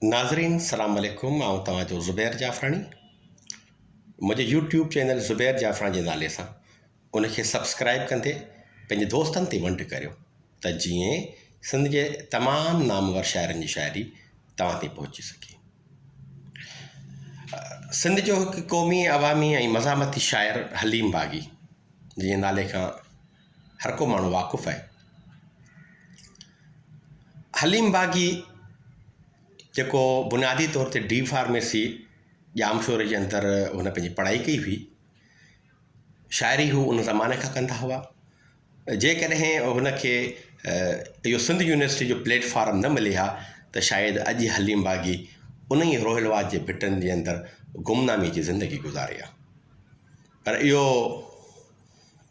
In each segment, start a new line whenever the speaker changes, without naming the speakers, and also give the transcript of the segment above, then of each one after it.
ناظرين سلام عليڪم آئون توهان جو زبير جعفراڻي منهنجي يوٽيوب چينل زبير جعفراڻي جي نالي سان ان کي سبسڪرائب ڪندي پنهنجي دوستن تي ونڊ ڪريو ته جيئن سنڌ جي تمام نامور شاعرن جي شاعري توهان تي پهچي سگهي سنڌ جو هڪ قومي عوامي ۽ مزاحمتي شاعر حليم باغي جنهنجي نالي کان هر ڪو ماڻهو واقف آهي. حليم باغي جيڪو بنيادي طور تي ڊي فارميسي ڄامشوري جي اندر هن پنهنجي پڙهائي ڪئي هئي شاعري هو ان زماني کان ڪندا هئا جيڪڏهن هن کي اهو سنڌ يونيورسٽي جو پليٽ فارم نه ملي ها ته شايد اڄ حليم باغي ان ئي روهيل واد جي ڀٽن جي اندر گمنامي جي زندگي گذاري ها پر اهو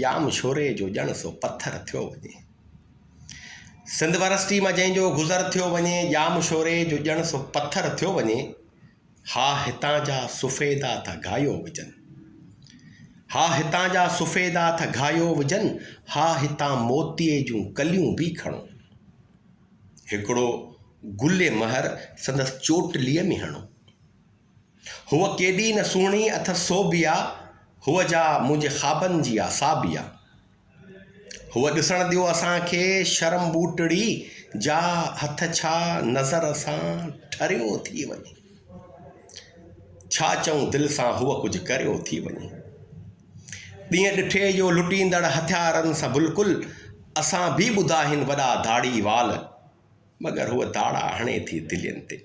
ڄام شوري جو ڄڻ سو پٿر ٿيو وڃي. سنڌ ورسٽي مان جنهن جو گذر ٿيو وڃي، ڄام شوري جو ڄڻ سو پٿر ٿيو وڃي، ها هتان جا سفيدا ٿا گاهيو وجهن. ها هتان جا سفيدا ٿا گاهيو وجهن، ها هتان موتيء جون ڪليون به کڻو. هڪڙو گل مهر سندس چوٽليء ۾ هڻو. هوء ڪيڏي نه سهڻي اٿس سوڀيا، هوء جا منهنجي خوابن جي آ ساڀيا. هوء ڏسڻ ڏيو اسان کي شرم ٻوٽڙي جا هٿ ڇا نظر سان ٺريو ٿي وڃي. ڇا چئون دل سان هوء ڪجهه ڪريو ٿي وڃي. ڏينهن ڏٺي جو لٽيندڙ هٿيارن سان بلڪل اسان به ٻڌا هن وڏا ڌاڙي وال مگر هوء ڌاڙا هڻي ٿي دلين تي.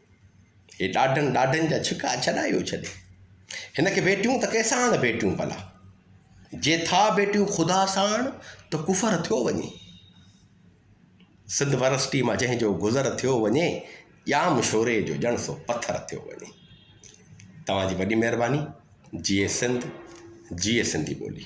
هي ڏاڍن ڏاڍن جا ڇڪا ڇڏايو ڇڏي هن کي ڀيٽيون ته ڪنهن ساڻ ڀيٽيون ڀلا جي ٿا ڀيٽيون خدا ساڻ ته ڪفر ٿيو وڃي سنڌ ورسٽي مان جنهن جو گذر ٿيو وڃي ڄام شوري جو ڄڻ سو پٿر ٿيو وڃي توهان جي وڏي مهرباني جيئي سنڌ جيئي سنڌي ٻولي